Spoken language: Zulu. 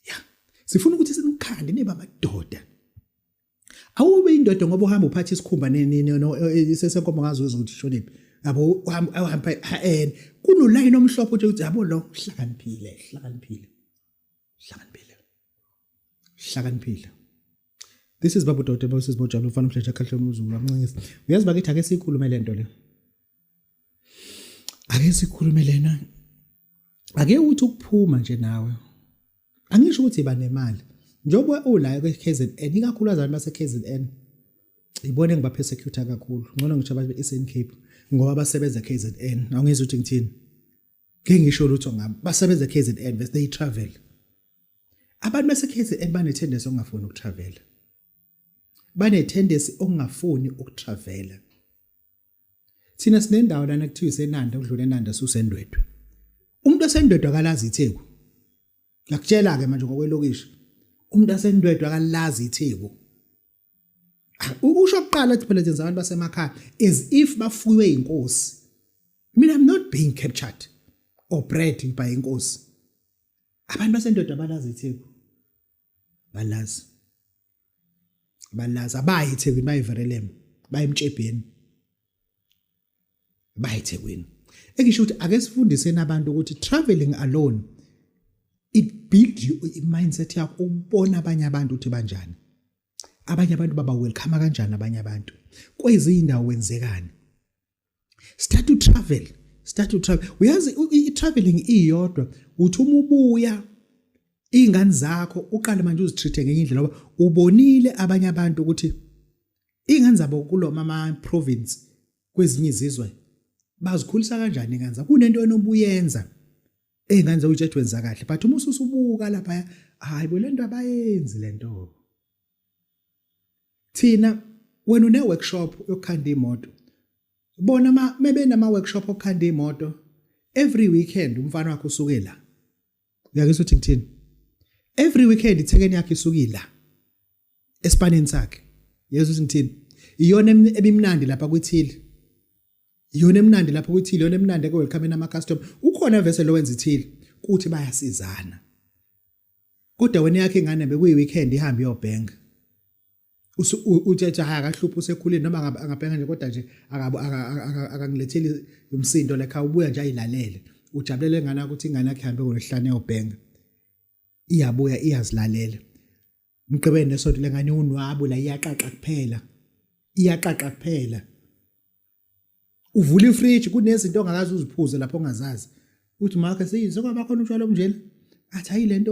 ya sifuna ukuthi sinikhande niba amadoda awube indoda ngoba uhamba uphatha isikhumba sesenkomo ngazi wezwa ukuthi shoniphi yabo uhamba en kunolayini omhlophe uthi ukuthi yabo lo hlakaniphile hlakaniphile hlakaniphile hlakaniphile this is babu dodo bosisi bojabula ufana umdletsha kahle umzulu amncengisa uyazi bakithi ake siyikhulume le nto le ake sikhulume lena ake uthi ukuphuma nje nawe angisho ukuthi iba nemali njengoba ula kwiKZN ikakhulu azali baseKZN ibona engiba persecute kakhulu ngcono ngisho abantu beSN Cape ngoba basebenza KZN awungizwe ukuthi ngithini ngeke ngisho lutho ngami basebenza KZN bese they travel abantu base KZN bane tendency ongafuni ukutravel bane tendency ongafuni ukutravel thina sinendawo lana kuthiwa isenanda ukudlula enanda susendwedwe umuntu osendwedwe akalazi itheku ngiyakutshela ke manje ngokwelokishi umuntu asendwedwe akalazi itheku usho kuqala ukuthi phela senza abantu basemakhaya as if bafuywe inkosi mina i'm not being captured or bred by inkosi abantu basendoda balazi itheku balazi balazi abayi ithekwini bayiverelemo bayimtshebheni bayithekwini engisho ukuthi ake sifundiseni abantu ukuthi traveling alone it build you mindset yakho ukubona abanye abantu ukuthi banjani abanye abantu baba welcome kanjani abanye abantu kwezindawo wenzekani start to travel start to travel uyazi i-traveling iyodwa uthi uma ubuya iy'ngane zakho uqale manje uzitreat-e ngenye indlela ngoba ubonile abanye abantu ukuthi Ingane zabo kulo mama province kwezinye izizwe bazikhulisa kanjani ingane zabo kunento enobuyenza ezingane zabo utshethu wenza kahle but uma ususubuka lapha hayi bo lento abayenzi lento thina wena une workshop yokukhanda imoto bona ma mebenama workshop okukhanda imoto every weekend umfana wakho usuke la uyakuzwa ukuthi ngithini every weekend ithekeni yakhe isukila esipaneni sakhe yezwa ukuthi ngithini iyona ebimnandi lapha kwithile iyona emnandi lapha kwithile iyona emnandi eke welcome nama customer ukhona vese lo wenza ithile kuthi bayasizana kodwa wena yakhe ingane bekuyi weekend ihambe yobhenga uthethe haya akahluphi usekhulile noma angabhenga nje kodwa nje akangiletheli umsindo like awubuya nje ayilalele ujabulele ingane ukuthi ingane yakhe ihambe ngolwehlane yobhenga iyabuya iyazilalela mgqibeni nesonto lengane unwabu la iyaqaqa kuphela iyaqaqa kuphela uvula ifridge kunezinto ongakazi uziphuze lapho ongazazi uthi makhe seyini sekwabakhona utshwala obunjena athi hayi lento